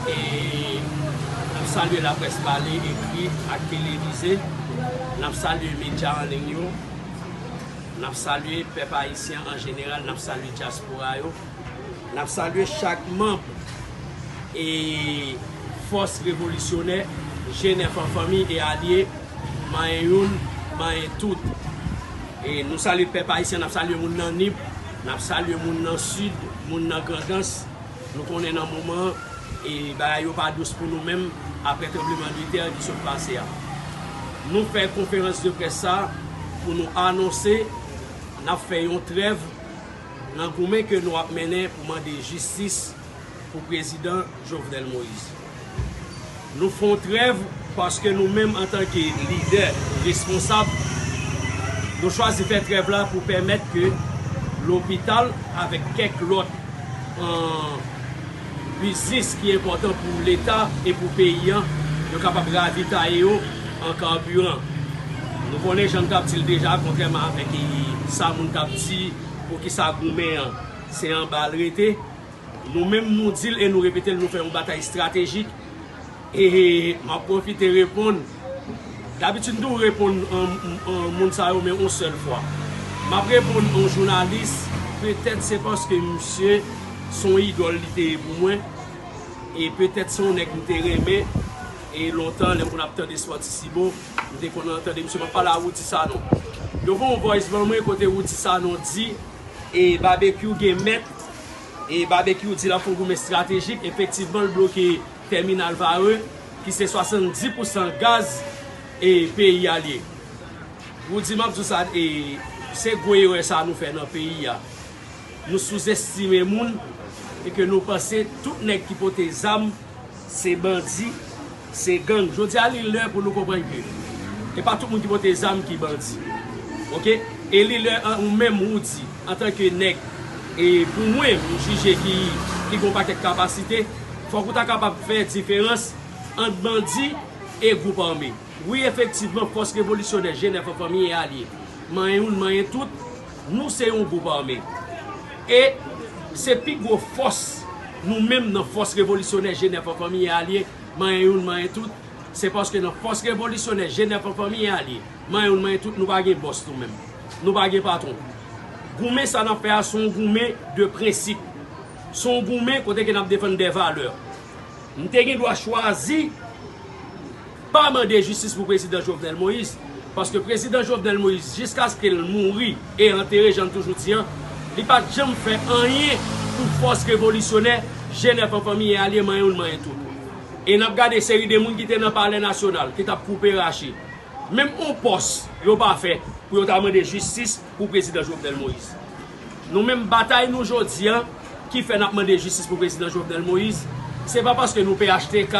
e nap salye laprès pale, ekri ak televize, nap salye medya an liy yo, nap salye pèp ayisyen an jeneral, nap salye dyaspora yo, nap salye chak manb e fòs revolisyonè G9 an fanmi e alye manyen youn manyen tout e nou salye pèp ayisyen nap salye moun nan Nip, nap salye moun nan Sid, moun nan Grandans. Nou konnen nan moman an, bagay yo pa dous pou nou menm aprè tranbleman de tè ki sot pase a. Nou fè konferans de près sa pou nou anonse n ap fè yon trèv nan goumen ke nou ap mennen pou mande jistis pou prezidan Jovenel Moïse. Nou fon trèv paske nou menm antanke lidè responsab nou chwazi fè trèv la pou pèmèt ke lopital avèk kèk lòt biznis ki enpòtan pou leta e pou peyi an yo kapab ravitaye yo an karbiran. Nou konnen jan nou tap dil deja kontrèman avèk sa moun tap di poukisa goumen an se anbal rete. Nou menm nou di l e nou repete l nou fè yon batay estratejik e m ap pwofite reponn dabitid m toujou reponn moun sa yo men yon sèl fwa m ap reponn yon jounalis petèt se paske misye se yon idòl li te ye pou mwen e petèt se yon nèg m te renmen e lontan lè m konn ap tande Sport-Tisibo m te konn tande misye m ap pale a Roudy Sanon yo voye yon voice ban mwen kote Roudy Sanon di e Babekyou gen mèt E Babekyou di l ap fon goumen estratejik efektivman l bloke tèminal Varreux ki se 70 pousan gaz e peyi a l ye. Roody map di w sa e se gwo erè sa nou fè nan peyi a. Nou souzestime moun e ke nou panse tout nèg ki pote zam. Se bandi, se gang. Jodi a li lè pou nou konprann ke e pa tout moun ki pote zam ki bandi. Ok e li lè ou menm Roody antan ke nèg e pou mwen m jije ki ki gon pakèt kapasite fòk ou ta kapab fè diferans ant bandi e gwoup ame. Wi efektivman fòs revolisyonè Jenèf an fanmi e alye manyen youn manyen tout Nou se yon gwoup ame. E, se pi gwo fòs nou menm nan Fòs Revolisyonè Jenèf an Fanmi e Alye, Manyen Youn Manyen Tout, se paske nan Fòs Revolisyonè Jenèf an Fanmi e Alye, Manyen Youn Manyen Tout, nou pa gen bòs nou menm. Nou pa gen patwon. Goumen sa n ap fè a se yon goumen de prensip. Se yon goumen kote ke n ap defann dè valè. M te gen dwa chwazi. Pa mande jistis pou prezidan Jovenel Moïse, paske prezidan Jovenel Moïse jiskaske l mouri e antere jan n toujou di an, li pa t janm fè anyen pou fòs revolisyonè Jen Èp an fanmi e alye manyen youn manyen tout. E n ap gade seri de moun ki te nan palè nasyonal ki t ap koupe rache, menm on pòs yo pa fè pou yo ta mande jistis pou prezidan Jovenel Moïse. Nou menm batay nou jodi an ki fè nap mande jistis pou prezidan Jovenel Moïse se pa paske nou phtk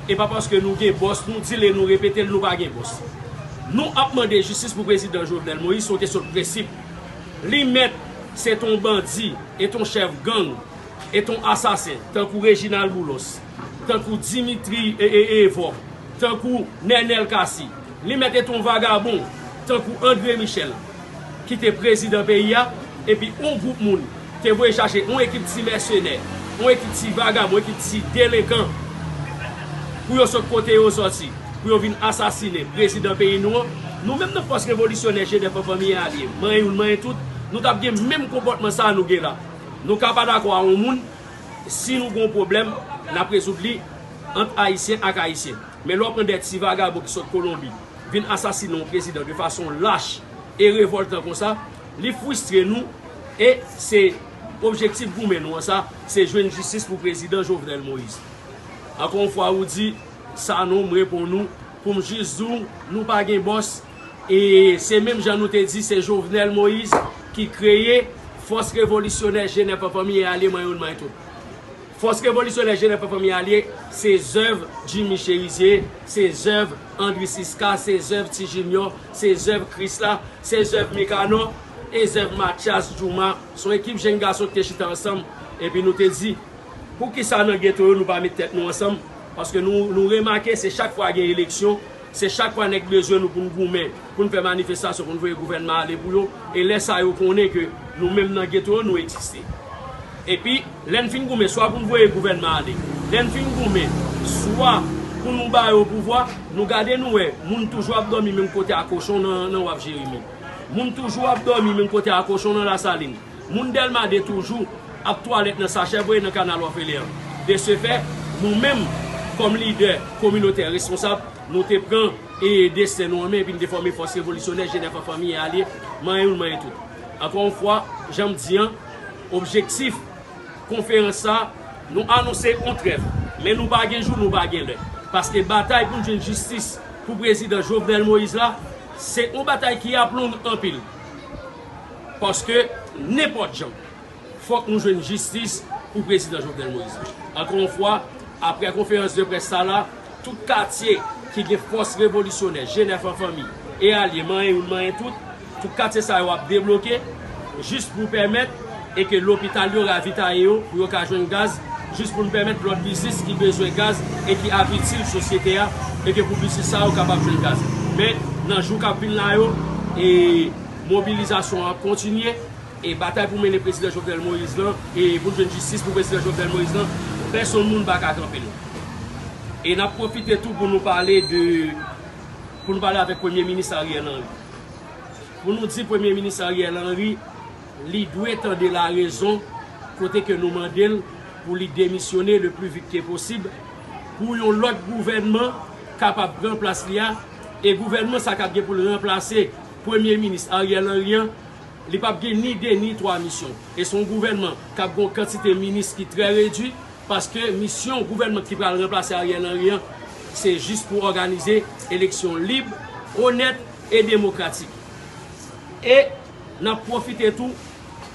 e pa paske nou gen bòs nou dil e nou repetel nou pa gen bòs. Nou ap mande jistis pou prezidan Jovenel Moïse se yon kesyon de prensip. Li mèt se t on bandi, e t on chèf gang, e t on asasen tankou Reginald Boulos. tankou Dimitri Eeevo, tankou Nenel Cassy, li mèt et on vagabon tankou Andre Michel ki te prezidan peyi a, epi on gwoup moun te voye chache on ekip ti mèsenè, on ekip ti vagabon, on ekip ti delenkan pou yo sot kote yo soti, pou yo vin asasine prezidan peyi nou an, nou menm nan fòs revolisyonè Jenèf an fanmi e alye, manyen youn manyen tout, nou t ap gen menm konpòtman sa a nou gen la. Nou ka pa dakò a on moun. si nou gon pwoblèm nap rezoud li ant ayisyen ak ayisyen men lè w pran de ti vagabon ki sot kolonbi vin asasinen yon prezidan de fason lach e revoltan konsa li fristre nou e se objektif goumen nou an sa se jwenn jistis pou prezidan jovenel moïse ankò yon fwa ou di Sanon m reponn ou pou m jis di w nou pa gen bòs. E se menm jan nou te di se Jovenel Moise ki kreye Fòs Revolisyonè Jenè Fanfanmi e Alye Mwen Youn Mwen Tout. Fòs Revolisyonè Jenè Fanfanmi e Alye se zèv Jimmy Cherizier, se zèv Andry Siska, se zèv Ti Junior, se zèv Krisla, se zèv Mikano e zèv Matyas Djouma. S on ekip jenn gason ki te chita ansanm epi nou te di poukisa nan geto yo nou pa met tèt nou ansanm paske nou remake se chak fwa gen eleksyon Se chak fwa nèg bezwen nou pou n goumen, pou n fè manifestasyon, pou n voye gouvènman ale pou yo, e lè sa yo konnen ke nou menm nan geto yo nou egziste. Epi, lè n fin goumen, swa pou n voye gouvènman ale, lè n fin goumen, swa pou nou ba yo pouvwa, nou gade nou wè, moun toujou ap dòmi menm kote a kochon nan waf Jeremi. Moun toujou ap dòmi menm kote a kochon nan Lasalin. Moun Dèlma 2 toujou ap twalèt nan sachè voye nan kanal òfelen an. De se fè, nou menm, kòm lidè kominotè responsab, nou te pran e desten nou an men epi n te fòme Fòs Revolisyonè Jenèf an Fanmi e Alye, manyen youn manyen tout. Ankò yon fwa, jan m di an, objektif konferans sa a, Nou anonse yon trèv, men nou pa gen jou nou pa gen lè, paske batay pou n jwenn jistis pou prezidan Jovenel Moïse la, se yon batay ki ap long anpil. paske nenpòt jan fòk nou jwenn jistis pou prezidan Jovenel Moïse la. Ankò yon fwa, aprè konferans de près sa la, tout katye ki gen fòs revolisyonè, Jenèf an fanmi e alye manyen youn manyen tout, tout katye sa yo ap debloke jis pou pèmèt e ke lopital yo ravitaye yo pou yo ka jwenn gaz, jis pou nou pèmèt lòt biznis ki bezwen gaz e ki ap itil sosyete a e ke pou biznis sa yo kapab jwenn gaz. Men, nan jou k ap vin la yo, e. Mobilizasyon ap kontinye e batay pou mennen Prezidan Jovenel Moïse lan e pou n jwenn jistis pou Prezidan Jovenel Moïse lan, pèsonn moun pa ka kanpe l. E n ap pwofite tou pou nou pale de, pou nou pale avèk Premye Minis Ariel Henry. Pou nou di Premye Minis Ariel Henry li dwe tande larezon kote ke nou mande l pou li demisyone le pli vit ke posib pou yon lòt gouvènman kapab pran plas li a e gouvènman sa kap gen pou l ranplase Premye minis Ariel Henry an, li pap gen ni 2 ni 3 misyon. E se yon gouvènman k ap gen yon kantite minis ki trè redui, paske misyon gouvènman ki pral ranplase Ariel Henry an, se jis pou òganize eleksyon lib, onèt e demokratik. E n ap pwofite tou.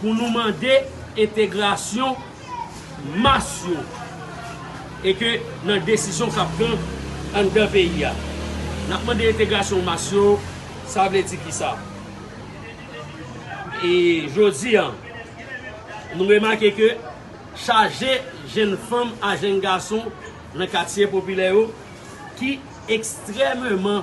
pou nou mande entegrasyon mas yo e ke nan desizyon k ap pran anndan peyi a. N ap mande entegrasyon mas yo, sa vle di kisa? E jodi a, nou remake ke chaje jenn fanm a jenn gason nan katye popilè yo ki ekstrememan.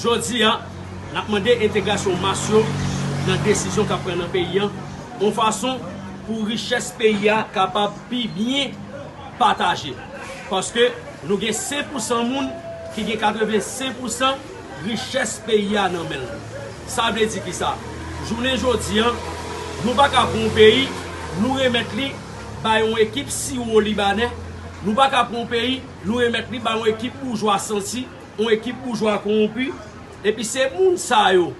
Jodi a, n ap mande entegrasyon mas yo nan desizyon k ap pran nan peyi an, yon fason pou richès peyi a kapab pi byen pataje. Paske nou gen 5 pousan moun ki gen 85 pousan richès peyi a nan men l. Sa vle di kisa? Jounen jodi a, nou pa ka pran yon peyi, nou remèt li bay yon ekip siwo libanè, nou pa ka pran yon peyi, nou remèt li bay yon ekip boujwa santi, Yon ekip boujwa konwonpi, epi se moun sa yo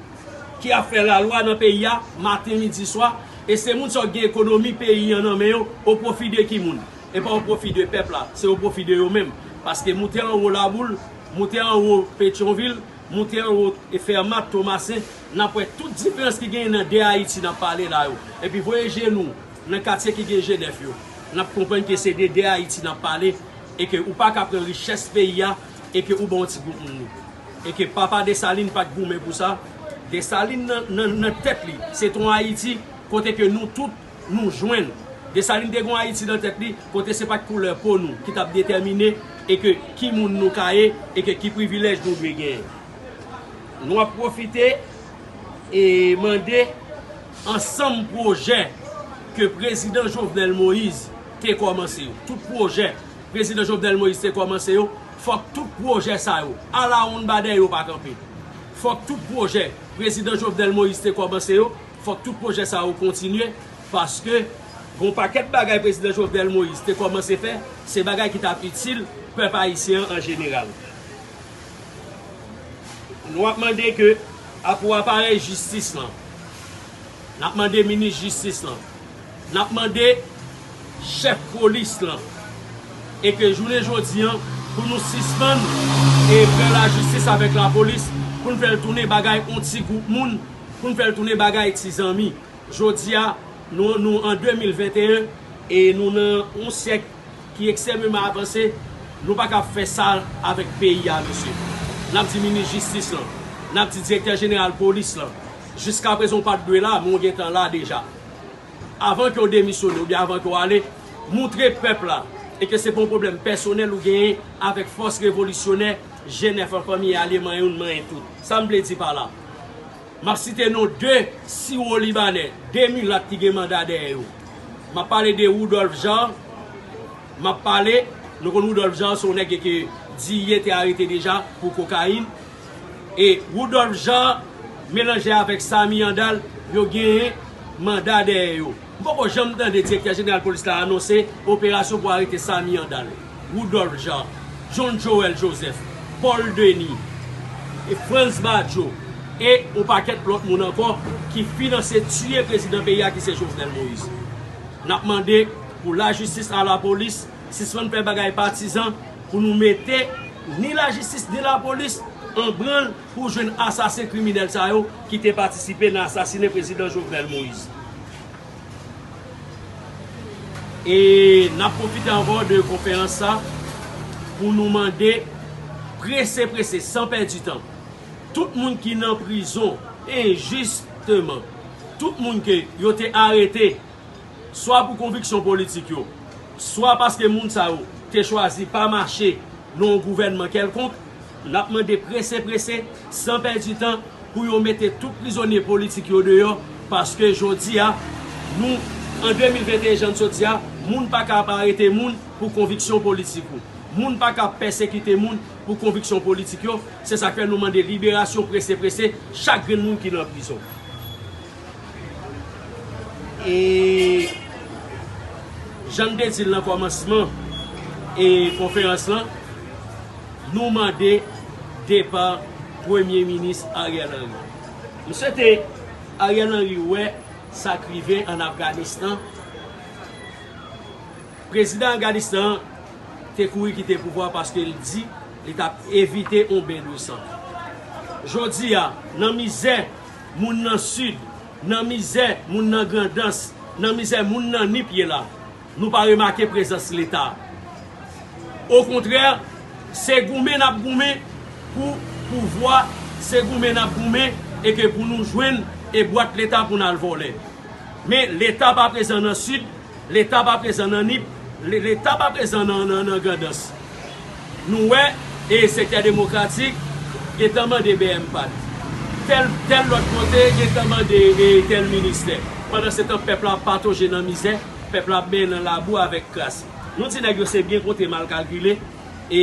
ki ap fè lalwa nan peyi a maten, midi, swa, e se moun sa yo ki gen ekonomi peyi an nan men yo, o pwofi de ki moun? E pa o pwofi de pèp la, se o pwofi de yo menm, paske moute anwo Laboul, moute anwo Petyonvil, moute anwo Fèmat, Tomasen, n ap wè tout diferans ki genyen nan 2 Ayiti n ap pale la yo. Epi voye je nou nan katye ki gen je nèf yo, n ap konprann ke se de 2 Ayiti n ap pale, e ke ou pa ka pran richès peyi a, e ke ou ban yon ti gwoup moun nou. E ke papa Desalin pat goumen pou sa, Desalin nan nan tèt li se t yon Ayiti kote ke nou tout nou jwenn. Desalin te gen yon Ayiti nan tèt li kote se pat koulè po nou ki tap detèmine e ke ki moun nou ka ye e ke ki privilèj nou dwe genyen. Nou ap pwofite e mande ansanm pwojè ke Prezidan Jovenel Moïse te kòmanse yo, tout pwojè. Prezidan Jovenel Moïse te kòmanse yo, fòk tout pwojè sa yo, alawonnbadè yo pa kanpe. Fòk tout pwojè Prezidan Jovenel Moïse te kòmanse yo, fòk tout pwojè sa yo kontinye, paske gon pakèt bagay Prezidan Jovenel Moïse te kòmanse fè, se bagay ki t ap itil pèp ayisyen an an jeneral. Nou ap mande ke a pou aparèy jistis lan, n ap mande minis jistis lan, N ap mande chèf polis lan e ke jounen jodi an pou nou sispann e fè lajistis avèk lapolis pou n fè l tounen bagay on ti gwoup moun, pou n fè l tounen bagay ti zanmi. Jodi a nou nou an 2021 e nou nan on syèk ki eksememan avanse, nou pa kab fè sa avèk peyi a mesye. N ap di minis jistis lan, n ap di direktè jeneral polis lan, jiskaprezan ou pa t dwe la men ou gen tan la deja. avan ke w demisyone oubyen avan ke w ale, moutre pèp la e ke se pa yon pwoblèm pèsonèl ou genyen avèk fòs revolisyonè Jenèf an fanmi e alye manyen youn manyen tout. Sa m vle di pa la? M ap site non 2 siwolibanè, 2 milat ki gen manda dèyè yo. M ap pale de Woudòlf Jan, m ap pale, nou konn Woudòlf Jan se yon nèg ke Diye te arete deja pou kokayin, E Rudolph Jean melanje avèk Samy Andal yo genyen manda dèyè yo. M poko janm tande direktè jeneral polis la anonse operasyon pou arete Samy Andal, Rudolph Jean, John Joel Joseph, Paul Denis, Frantz Badio e on pakèt lòt moun ankò ki finanse tiye prezidan peyi a ki se Jovenel Moïse. N ap mande pou lajistis a lapolis. Sispann fè bagay patizan pou nou mete ni lajistis ni lapolis an branl pou jwenn asasen kriminèl sa yo ki te patisipe nan asasinen prezidan Jovenel Moïse. E nap pwofite ankò de konferans sa pou nou mande prese prese san pèdi tan tout moun ki nan prizon enjisteman, tout moun ke yo te arete. swa pou konviksyon politik yo, swa paske moun sa yo te chwazi pa mache nan yon gouvènman kèlkonk, n ap mande prese prese, san pèdi tan, pou yo mete tout prizonye politik yo deyò, paske jodi a, nou, an 2021 jan n sot di a, moun pa ka ap arete moun pou konviksyon politik ou. Moun pa ka ap pèsekite moun pou konviksyon politik yo, se sa k fè nou mande liberasyon prese prese chak grenn moun ki nan prizon. E jan m te di l nan kòmansman e konferans lan, nou mande depa Premye Minis Ariel Henry. M swete Ariel Henry wè sa k rive an Afganistan. Prezidan Afganistan an te kouri kite pouvwa paske l di li t ap evite yon ben de san. Jodi a, nan mizè. moun nan Sid, nan mizè moun nan Grandans, nan mizè moun nan Nip ye la, nou pa remake prezans Leta. Okontrè, se goumen n ap goumen pou pouvwa, se goumen n ap goumen e ke pou nou jwenn e bwat Leta pou n al vòlè. Men Leta pa prezan nan Sid, Leta pa prezan nan Nip, Leta pa prezan nan Grandans. Nou wè e Sektè Demokratik gentan mande BMPAD. Tèl tèl lòt kote gentan mande e tèl ministè. Pandansetan pèp la ap patoje nan mizè, pèp la ap benyen nan labou avèk kras. Nou di nèg yo se byen konte mal kalkile e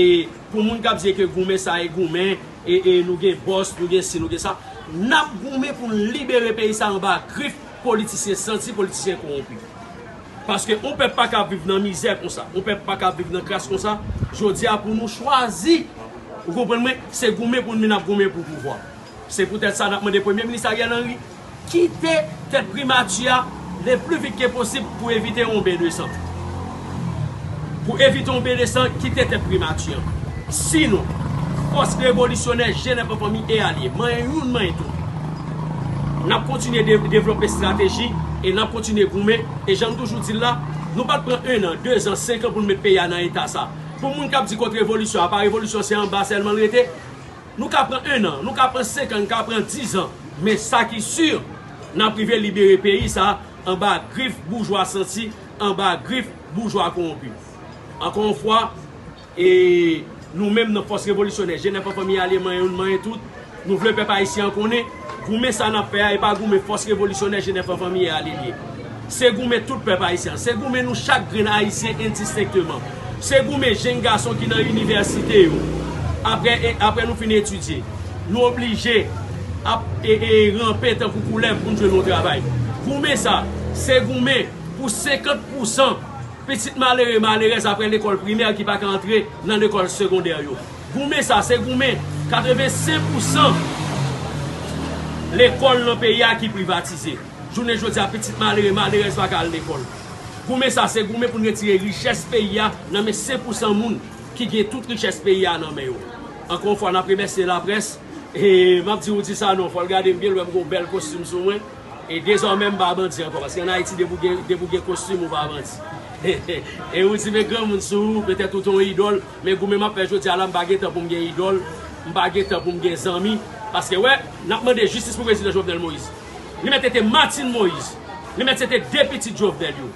pou moun k ap di e ke goumen sa e goumen e e nou gen bòs, nou gen si, nou gen sa. N ap goumen pou n libere peyi sa anba grif. Politisyen santi, politisyen kowonpi. Paske yon pèp pa ka viv nan mizè konsa, yon pèp pa ka viv nan kras konsa, jodi a pou nou chwazi, ou konprann mwen, se goumen pou nou nap goumen pou pouvwa. Se poutèt sa nap mande Premye Minis Ariel Henry kite tèt primati a le pli vit ke posib pou evite yon ben de san. Pou evite yon Bedesan kite tèt Primati an. Si nou, Fòs Revolisyonè Jenèf Anfanmi e Alye, manyen youn manyen tout, n ap kontinye devlope estrateji e n ap kontinye goumen. E jan m toujou di l la, nou pa t pran ennan, dezan, senkan pou n met peyi a nan eta sa. Pou moun k ap di kont revolisyon apa revolisyon se anba sèlman l rete. Nou ka pran ennan, nou ka pran senkan, n ka pran dizan, men sa ki si, n ap rive libere peyi sa anba grif boujwa santi anba grif boujwa kowonpi. Ankò yon fwa, e nou menm nan Fòs Revolisyonè, Jenèf an Fanmi Alye manyen youn manyen tout, nou vle pèp ayisyen an konnen, goumen sa n ap fè a e pa goumen Fòs Revolisyonè Jenèf an Fanmi e Alye l ye. Se goumen tout pèp ayisyen an. Se goumen nou chak grenn ayisyen endistenkteman. Se goumen jenn gason ki nan inivèsite yo, apre apre nou fin etidye, nou oblije ap e e ranpe tankou koulèv pou n jwenn yon travay. Goumen sa, se goumen. Pou 50 pousan pitit malere malerèz aprè lekòl primè ki pa ka antre nan lekòl segondè yo. Goumen sa se goumen 85 pousan lekòl nan peyi a ki privatize. Jounen jodi a pitit malere malerèz pa ka al lekòl. Goumen sa se goumen pou n retire richès peyi a nan men 5 pousan moun ki gen tout richès peyi a nan men yo. Ankò yon fwa n ap remèsye laprès e m ap di ou di sa non fò l gade m byen l wè m gen yon bèl kostim sou mwen. E dezòmè m pa bandi ankò. Paske an Ayiti depi w gen, depi w gen kostim ou pa bandi. E ou di men granmoun sou ou, petèt ou te yon idòl, men goumen m ap fè jodi a la m pa gen tan pou m gen idòl, m pa gen tan pou m gen zanmi. Paske wè, n ap mande jistis pou Prezidan Jovenel Moïse. Li mèt se te Martine Moïse, li mèt se te 2 pitit Jovenel yo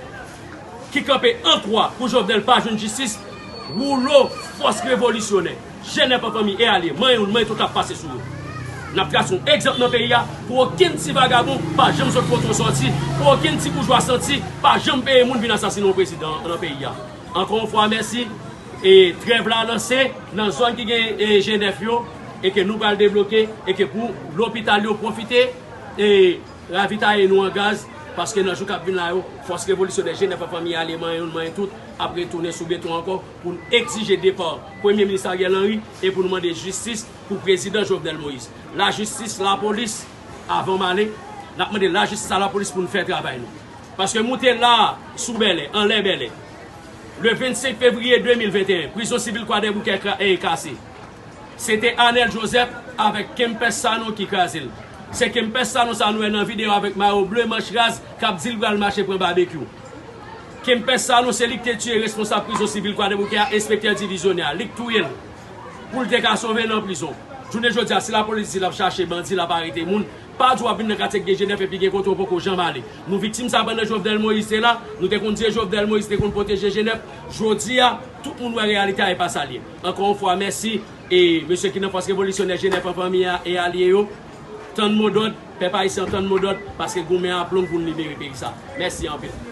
ki kanpe an kwa pou Jovenel pa jwenn jistis, woulo fòs revolisyonè. Jenèv an fanmi e ale manyen youn manyen tout ap pase sou yo. N ap trase yon egzanp nan peyi a pou okenn ti vagabon pa janm sot kote yo sòti, pou okenn ti boujwa santi pa janm peye moun vin asasinen yon prezidan nan peyi a. Ankò yon fwa mèsi e trèv la lanse nan zòn ki gen Jenèv yo e ke nou pral debloke e ke pou lopital yo pwofite e ravitaye nou an gaz paske nan jou k ap vin la yo fòs revolisyonè Jenèv an fanmi e ale manyen youn manyen tout ap retounen sou beton ankò. pou n egzije depa Premye Minis Ariel Henry e pou nou mande jistis pou Prezidan Jovenel Moïse. Lajistis, lapolis, avan m ale, n ap mande lajistis a lapolis pou nou fè travay nou. Paske moute la a, sou Bèlè, anlè Bèlè, le 25 fevriye 2021, prizon sivil Kwadèboukè e kase. Se te Anèl Jozèf avèk Kempès Sanon ki kraze l. Se Kempès Sanon sa a nou wè nan videyo avèk mayo ble, manch raz, k ap di l pral mache pran babekyou. Kempès Sanon se li k te tiye responsab prizon sivil Kwadèboukè a, enspektè divizyonè a. Li k touye l pou l te ka sove nan prizon. Jounen jodi a, si lapolis di l ap chache bandi, l ap arete moun, pa di w ap vin nan katye k gen Jenèf epi gen kote w poko janm ale. Nou viktim sa pandan Jovnèl Moyiz te la, nou te konn di e Jovnèl Moyiz te konn pwoteje Jenèf. Jodi a, tout moun wè reyalite a e pa sa l ye. Ankò yon fwa mèsi e mesye ki nan Fòs Revolisyonè Jenèf an fanmi a e alye yo. Tann modòd, pèp ayisyen an tann modòd paske goumen a ap long pou n libere peyi sa. Mèsi anpil.